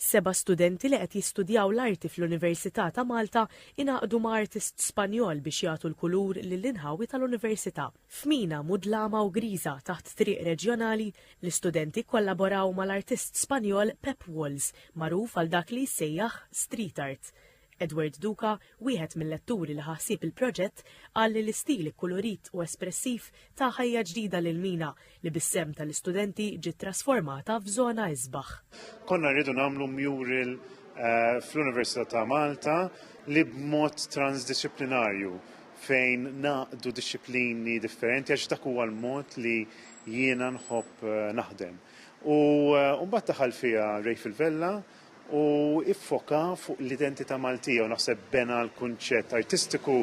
Seba' studenti li qed jistudjaw l-arti fl-Università ta' Malta ingħaqdu ma' artist Spanjol biex jagħtu l-kulur lill-inħawi tal-Università. F'mina mudlama u griża taħt triq reġjonali, l-istudenti kkollaboraw mal-artist Spanjol Pep Walls, magħruf għal dak li jissejjaħ street art. Edward Duca, wieħed mill-letturi li ħa ħsieb il-proġett, qal li l-istil ikkulurit u espressiv ta ħajja ġdida lill-mina li bis-sehem tal-istudenti ġiet trasformata f'żona isbaħ. Konna rridu nagħmlu mural fl-Università ta' Malta li b'mod transdixxiplinarju fejn ngħaqqdu dixxiplini differenti għax dak huwa l-mod li jiena nħobb naħdem. U mbagħad daħal fiha Ray Fil-Vella, u iffoka fuq l-identità Maltija u naħseb bena l-kunċett artistiku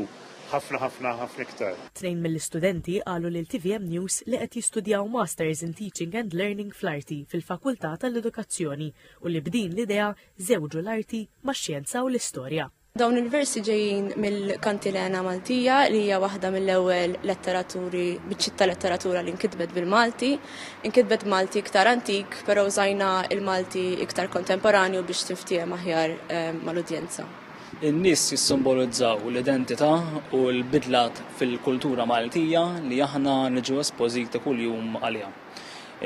ħafna ħafna ħafna iktar. Tnejn mill-istudenti qalu lil tvm News li qed jistudjaw Masters in Teaching and Learning fl-Arti fil-Fakultà tal-Edukazzjoni u li b'din l-idea żewġu l-Arti max-Xjenza u l-Istorja. Dawn il-versi ġejjin mill-Kantilena Maltija li hija waħda mill-ewwel letteraturi biċċitta letteratura li nkitbet bil-Malti. Nkitbet Malti iktar antik, però użajna il-Malti iktar kontemporanju biex tinftiehem aħjar eh, mal-udjenza. In-nies jissimbolizzaw l-identità u l-bidlat fil-kultura Maltija li aħna niġu espożiti kuljum għaliha.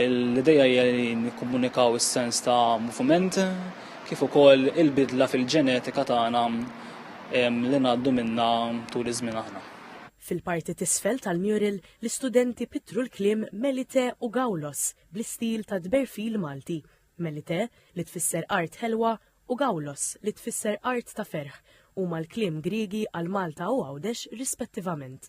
L-idea hija li nikkomunikaw is-sens ta' moviment kif ukoll il-bidla fil-ġenetika tagħna li ngħaddu minnha tul iż-żmien aħna. Fil-parti t'isfel tal-mural, l-istudenti pittru l-kliem Melite u Gawlos bl-istil ta' tberfil Malti, Melite, li tfisser art ħelwa, u Gawlos, li tfisser art ta' ferħ, huma l-kliem Griegi għal Malta u Għawdex rispettivament.